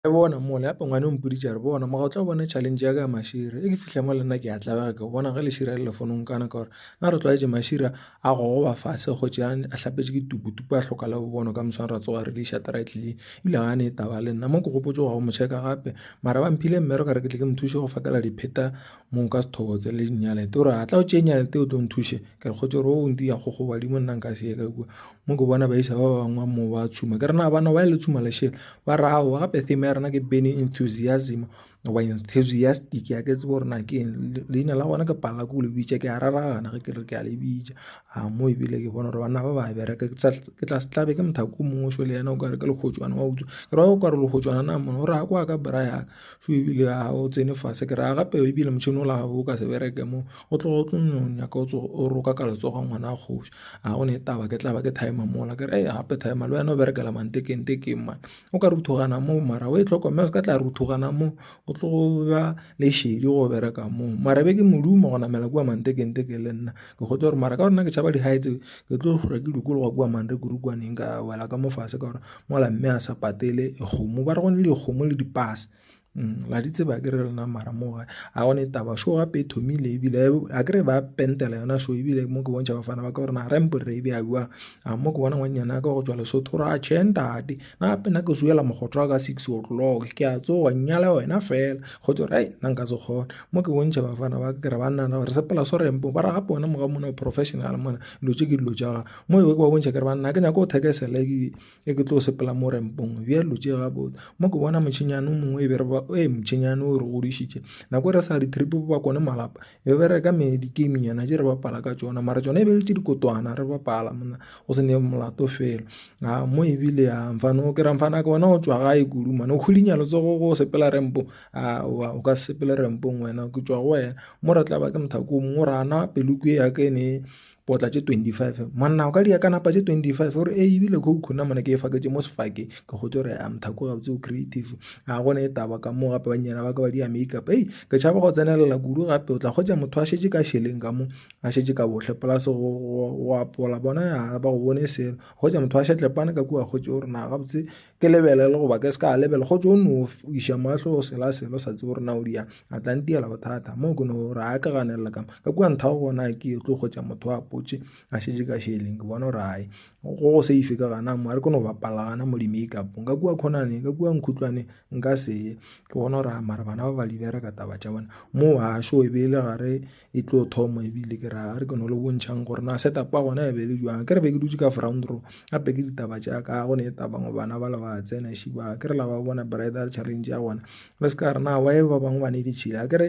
Re bona mola ya pengwane o mpoditše a re bona moga o tla bone challenge ya ka ya mašira e ke fitlha mo le nna ke a tlabega ke bona ge lešira le lefonong kana ka gore na re tlwaetse mašira a go goba fase go tšea a hlapetse ke tuputupu a tlhoka le bobono ka moswana ra tsoga re di isha traitlele ebile ga ne e taba le nna mo ke gopotse go ya go mo checka gape mara ba mphile mme re ka re ke tle ke mo thushe go fakela dipheta mo ka sethobo tse le dinyalete o re a tla o tšee nyalete o tlo nthushe ke re kgotse gore o ntse ya go go badimo nna nka se ye ka kua mo ke bona baisa ba bangwe mo ba tshuma ke rena bana ba le tshuma lešela ba re ao gape theme ya rena ke bene enthusiasm goba enthusiastic ya ke tsebo rena ke leina la gona ke palela ko le bitša ke a raragana ge ke re ke a le bitša a mo ebile ke bona gore banna ba ba bereka ke tla se tlabe ke mothako o mongwe šole yena o kare ke lekgotswana wa utswa ke ra o kare lekgotswana na mona o re ya kwa ka bra yaka so ebile ga o tsene fase ke raya gape ebile motšhini o la gago o ka se bereke mo o tlo o tlo nno nyaka o tsoge o roka ka letsogo ngwana a kgoši ga gone taba ke tla ba ke timer mola ke re gape timer le wena o berekela mantekengtekeng mane o ka ruthogana moo mara o e tlhokomela o se ka tla ruthogana moo o tlo ba le šedi go bereka moo mara be ke modumo go namela kua mantekengtekeng le nna ke kgotse gore mara ka gore nna ke tšhaba di-heights ke tlo hlwa ke dikologa kua mantekurukuwaneng ka wela ka mo fase ka gore. mola mme a sa patele kgomo ba re gone le kgomo le dipase la di tseba ke re lena mara mo ga a gone taba show gape e thomile ebile a kere ba pentela yona show ebile mo ke bontšha bafana ba ka gore na rempo re e bjauang a mo ke bona ngwanyana ka go tswa lesotho ra che ntate na gape na ke zoela mogotho wa ka six o'clock ke a tsoga nnyala wena fela go tswa re nna nka se kgona mo ke bontšha bafana ba ka ke re ba nna re sepela so rempo ba re gape wena mo ga mona professional mona dilo tše ke dilo tša gago Mo ewe ke ba bontšha ke re banna ke nyaka go thekesela e ke tlo sepela mo rempong bjalo tše ga botse mo ke bona motšhenyana o mongwe e be re ba e motšhenyana o re godišitše nako e re sa di trip ba kone malapa e be re ka me di game nyana tše re bapala ka tšona mara tšona e be le tše dikotwana re bapala monna go se ne molato fela a mo ebile a mfana o ke ra mfana ke bona o tšwa gae kudu mane o kgodinya letsogo go sepela rempo a o ka sepela rempong wena ke tšwa go wena mo re tla ba ke mothako o mongwe o re ana peloko e ya ke ne potla tše 25 monna o ka dia ka napa tše 25 gore e ebile khoukhou nna mona ke e faketše mo sefake ke gotse gore a mthako gabotse o creative a gone e taba ka moo gape bannyana ba ka ba dia makeup ei ke tšhaba go tsenelela kudu gape o tla kgwetsa motho a šetše ka šeleng ka mo a šetše ka bohle polase go apola bona ya ba go bone selo kgwetsa motho a šetlepane ka kua kgwetse gore na gabotse ke lebelele goba ke se ka lebele go tso no iša mahlo o sela selo sa tse gore na o diyang a tla ntiyela bothata moo ke no gore a ke ganelela kama ka kua ntha go gona ke e tlo kgotsa motho a potse a šetse ka šeleng ke bona gore gae go go se ife ka gana mo a re ke no bapala gana mo di-make up nka kua khonane ka kua nkhutlwane nka seye ke bona gore mara bana ba ba di bereka taba tša bona moo a šo e be e le gare e tlo thoma ebile ke ra re ke no le bontšhang gore na setup a gona e be le jwang ke re be ke dutse ka front row gape ke ditaba tša ka go ne taba ngo bana ba le ba tsena shi ba ke re la ba bona bridal challenge ya gona le se ka re na wa e ba bangwe ba ne di tšhila ke re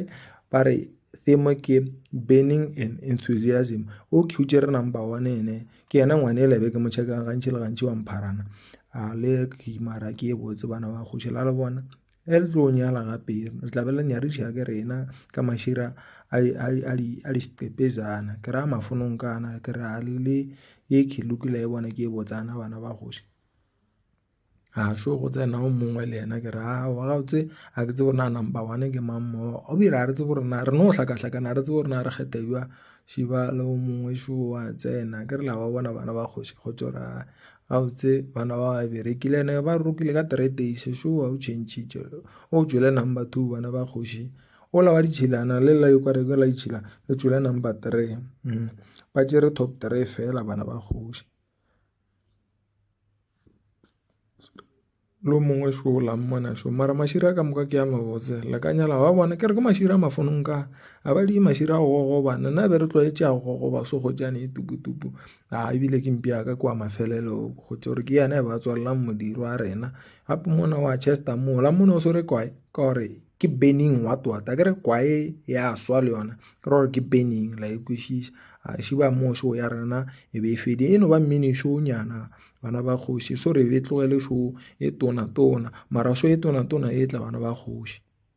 ba re theme ke burning and enthusiasm o khutše re number one ene ke yena ngwane e lebe ke mo checkang gantši le gantši wa mpharana a le ke mara ke e botse bana ba kgoši la le bona Ge le tlo nyala gape le tla be le nyadiša ke rena ka mašira a di a di a di a di steppezana. Ke ra mafonong kana ke re a le ye ke lokile e bona ke e botsana bana ba kgoši. A šo go tsena o mongwe le yena ke re aowa gabotse a ke tsebe na number one ke mang mo. O dire a re tsebe gore na re no hlaka hlakana a re tsebe gore na re kgetha jwa šiba le o mongwe šo wa tsena ke re la ba bona bana ba kgoši kgotso ra Gabotse bana ba ga bereke le ene ba rokile ka three days so wa o change-tše o tšwele number two bana ba kgoši ola wa ditšhilana le lela yo kare ke la ditšhila le tšwele number three ba tšere top three fela bana ba kgoši. Lo mongwe šo o la mmona šo. Mara mašira ka moka ke a mabotse. La ka nyala ba bona. Ke re ke mašira a mafonong ka. A ba di mašira a go gogoba. Nna be re tlwaetše a go gogoba so go tšane e tupu tupu. A e bile ke mpi ya ka kwa mafelelo. Go tšo re ke yena e ba tswalelang modiro a rena. Gape mona wa Chester mo. La mmona o so re kwae. Ka gore ke burning wa twata. A ke re kwae ya swa le yona. Ke ra gore ke burning la e kwešiša. A šiba mo šo ya rena e be e fedile. E no ba mmini šo nyana. bana ba kgoši so re e tlogele show e tona tona mara show e tona tona e tla bana ba kgoši.